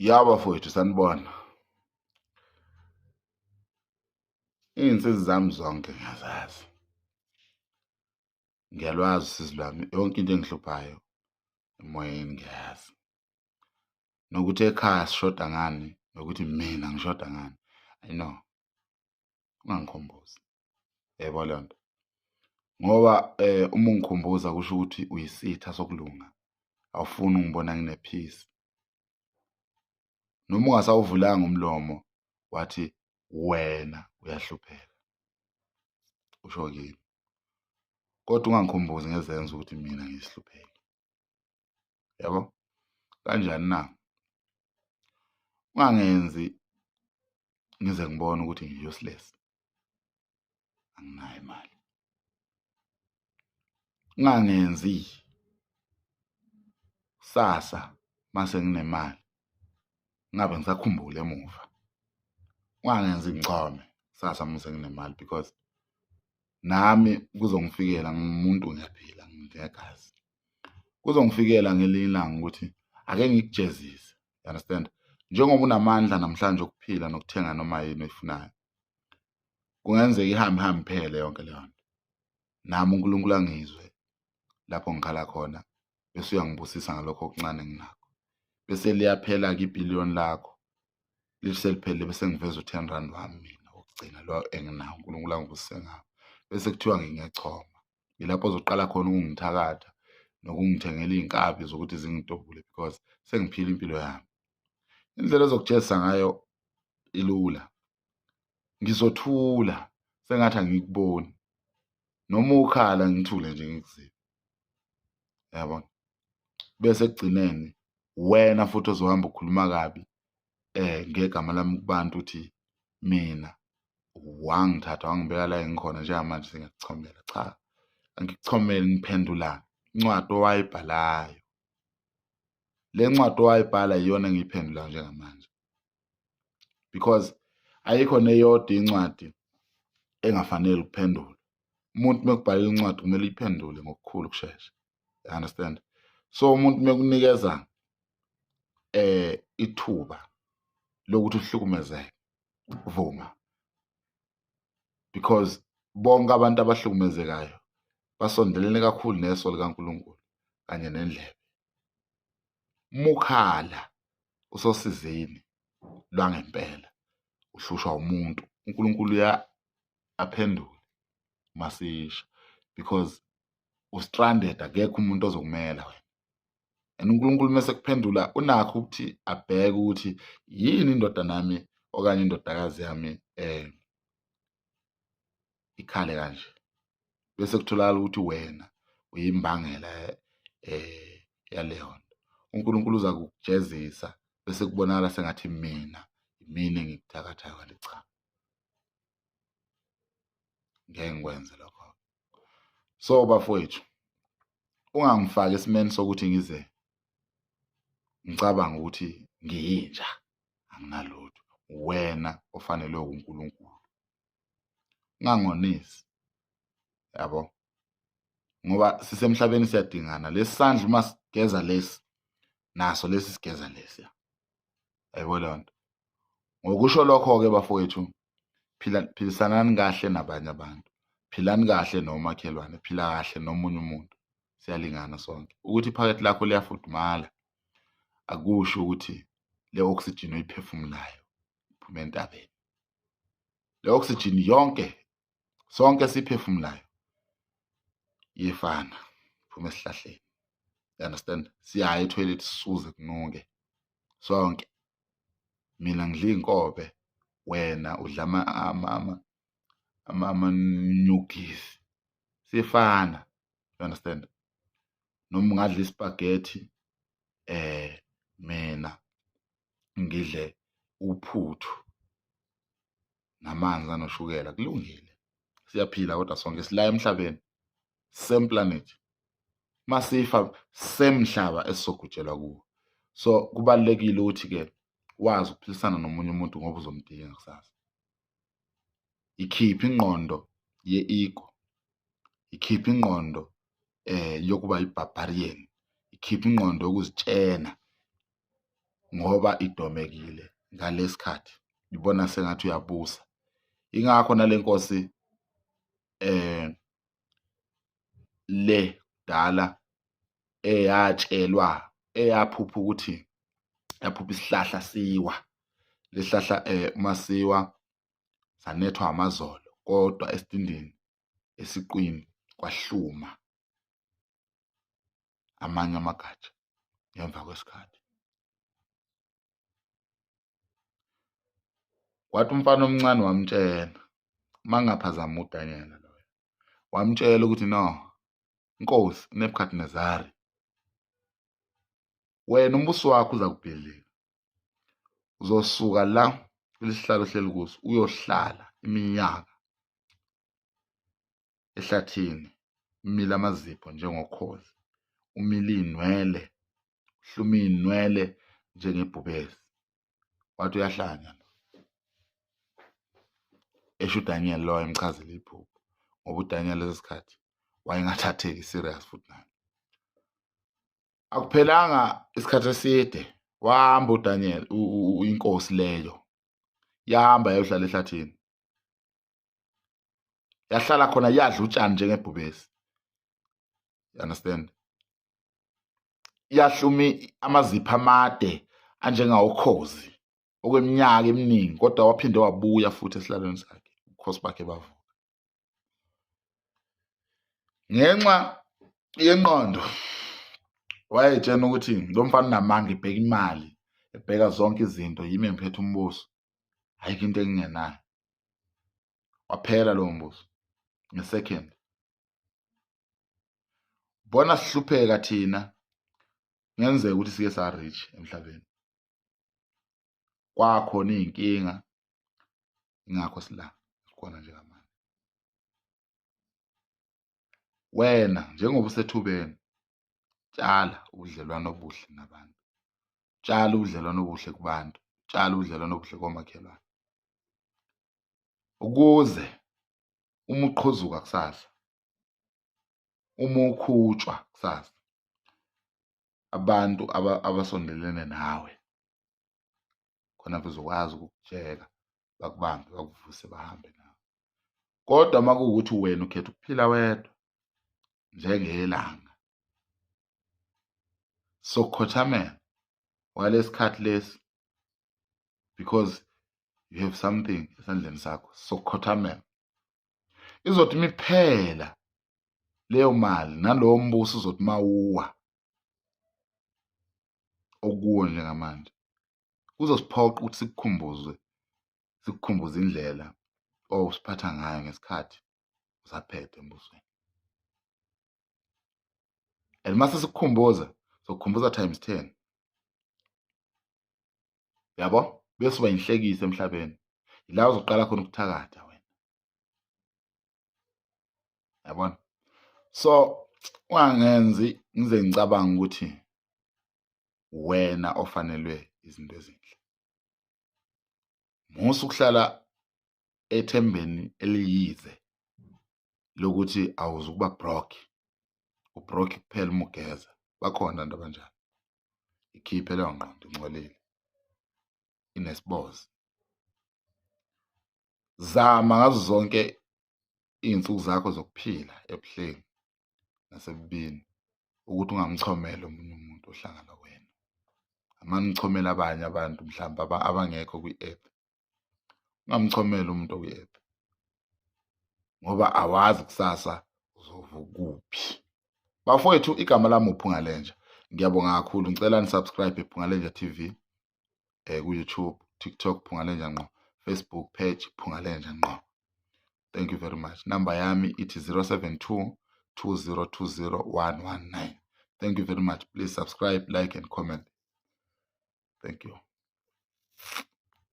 ya bafowethu sanibona iy'nsizi zami zonke ngiyazazi ngiyalwazi usizi lwami yonke into engihluphayo emoyeni ngiyazi nokuthi ekhaya sishoda ngani nokuthi mina ngishoda ngani i know ungangikhumbuzi yebo leyo nto ngoba um uma ungikhumbuza kusho ukuthi uyisitha sokulunga awufuni ungibona nginephisi noma ungasawuvulanga umlomo wathi wena uyahlupheka usho kimi kodwa ungangikhumbuzi ngezenzo ukuthi mina ngiyisihlupheki yabo kanjani na ungangenzi ngize ngibone ukuthi ngiyosilesi anginayo imali ngangenzi sasa mase nginemali ngabe ngisakhumbula emuva ungangenzi ngichome sasa mase nginemali because nami kuzongifikela ngumuntu ngiyaphila nginegazi kuzongifikela ngelinye ilanga ukuthi ake ngikujezise you understand njengoba unamandla namhlanje okuphila nokuthenga noma yini oyifunayo kungenzeka ihambe ihambe iphele yonke leyo nto nami unkulunkulu angizwe lapho ngikhala khona bese uyangibusisa ngalokho okuncane enginakho bese liyaphela-ke ibhiliyoni lakho lithi seliphelile bese ngiveza u-ten rand wami mina wokugcina lo enginawo unkulunkulu angibusise ngawo bese kuthiwa ngingechoma yilapho ozoqala khona ukungithakatha nokungithengela iy'nkabi zokuthi zingidobule because sengiphila impilo yami indlela ezokujezisa ngayo ilula ngizothula sengathi angikuboni noma ukhala ngithule nje ngikuzibe yabona bese ekugcineni wena futhi ozohamba ukhuluma kabi eh ngegama lami kubantu ukuthi mina wangithatha wangibeka la engikhona njengamanje singikuchomela cha angikuchomeli ngiphendulana incwadi owayibhalayo le ncwadi owayibhala iyona engiyiphendula njengamanje because ayikho neyodwa incwadi engafanele ukuphendula umuntu mekubhalela incwadi kumele uyiphendule ngokukhulu ukushesha you understand so umuntu mekunikeza eh ithuba lokuthi uhlukumezeke vuma because bonke abantu abahlukumezekayo basondelene kakhulu neso likaNkulunkulu kanye nendlebe mukhala usosizini lwangempela uhlushwa umuntu uNkulunkulu ya aphendule masisha because ustranded akekho umuntu ozokumela wena and uNkulunkulu mase kuphendula unakho ukuthi abheke ukuthi yini indoda nami okanye indodakazi yami eh ikhale kanje bese kutholakala ukuthi wena uyimbangela eh yaleyo nto uNkulunkulu uza kukujezisa bese kubonakala sengathi mina mina engikuthakathayo ngale cha ngeke ngikwenze lokho so bafowethu ungangifaki esimeni sokuthi ngize ngicabanga ukuthi ngiyinja anginalutho wena ofanelwe uNkulunkulu ngangonisi yabo ngoba sisemhlabeni siyadingana lesandla uma sigeza lesi naso lesi sigeza lesi yabo leyo nto ngokusho lokho-ke bafowethu phila philisanani kahle nabanye abantu philani kahle nomakhelwane phila kahle nomunye umuntu siyalingana sonke ukuthi iphakethe lakho liyafudumala akusho ukuthi le oxygen oyiphefumulayo iphuma entabeni le oxygen yonke sonke siphefumulayo yefana phuma esihlahleni you understand siyaya etoilet sisuze kunuke sonke mina ngidla iy'nkobe wena udla ama-newgies sifana you understand noma ungadla ispagethi eh mina ngidle uphuthu namanzi anoshukela kulungile siyaphila kodwa sonke sila emhlabeni same planet masifa same mhlaba esizogujelwa kuwo so kubalekile ukuthi ke wazi ukuphilisana nomunye umuntu ngoba uzomdinga kusasa ikhipha ingqondo ye-ego ikhipha ingqondo eh yokuba yi-barbarian ikhipha ingqondo yokuzitshena ngoba idomekile ngalesikhathi ibona sengathi uyabusa ingakho nalenkosi eh le dala eyatshelwa eyaphupha ukuthi yaphupha isihlahla siwa lesihlahla eh uma siwa sanethwa amazolo kodwa esitindini esiqwini kwahluma amanye amagatsha ngemva kwesikhathi kwathi umfana omncane wamtshela mangaphazama uDaniel loyo wamtshela ukuthi no inkosi uNebukadnezari wena umbuso wakho uza kubhidlika uzosuka la kulesihlalo ohleli kuso uyohlala iminyaka ehlathini umile amazipho njengokhozi umile iy'nwele uhluma iy'nwele njengebhubesi wathi uyahlanya esho uDaniel lo wayemchazela iphupho ngoba uDaniel lesi sikhathi wayengathatheki serious futhi naye akuphelanga isikhathi eside wahamba uDaniel inkosi leyo yahamba yayohlala ehlathini yahlala khona yadla utshani njengebhubesi you understand iyahlumi amazipha amade anjengawokhozi okweminyaka eminingi kodwa waphinde wabuya futhi esihlalweni sakhe ubukhosi bakhe bavuka ngenxa yenqondo wayetshena ukuthi lo mfana unamanga ibheka imali ebheka zonke izinto yimi engiphethe umbuso ayikho into engingenayo waphela lowo mbuzo ngesecond bona sihlupheka thina ngenzeka ukuthi sike sa rich emhlabeni kwakho nezinkinga ingakho sila khona njengamanje wena njengoba usethubeni Tshala ubudlelwano obuhle nabantu. Tshala ubudlelwano obuhle kubantu. Tshala ubudlelwano obuhle komakhelwane. Ukuze uma uqhuzuka kusasa, uma ukhutshwa kusasa, abantu abasondelene nawe khona bezokwazi ukukutsheka bakubambe bakuvuse bahambe nawe. Kodwa uma kuwukuthi wena ukhetha ukuphila wedwa njengelanga sokukhothamela walesikhathi lesi because you have something esandleni sakho sokukhothamela izothi imiphela leyo mali nalowo mbuso uzothi mawuwa okuwo njengamanje kuzosiphoqa ukuthi sikukhumbuze sikukhumbuze indlela owusiphatha ngayo ngesikhathi usaphethe embusweni and mase sikukhumbuza sokukhumbuza times 10 yabo bese uba inhlekise emhlabeni ila uzoqala khona ukuthakatha wena yabona so ungangenzi ngize ngicabanga ukuthi wena ofanelwe izinto ezinhle Musa ukuhlala ethembeni eliyize lokuthi awuzukuba brock ubrock kuphela uma ugeza bakhona abantu abanjalo ikhiphe leyo ngqondo ingcolile inesibozi zama ngazo zonke iy'nsuku zakho zokuphila ebuhleni nasebubini ukuthi ungamchomeli omunye umuntu ohlanga nokwena amane uchomele abanye abantu mhlawumbe abangekho kwi-app ungamchomeli umuntu okwi-app ngoba awazi kusasa uzovukuphi bafowethu igama lami uphungalenja ngiyabonga kakhulu ngicela nisubscribe iphungalenja tv eh ku YouTube TikTok Phungalenja ngqo Facebook page Phungalenja ngqo thank you very much number yami ithi 072 2020119 thank you very much please subscribe like and comment thank you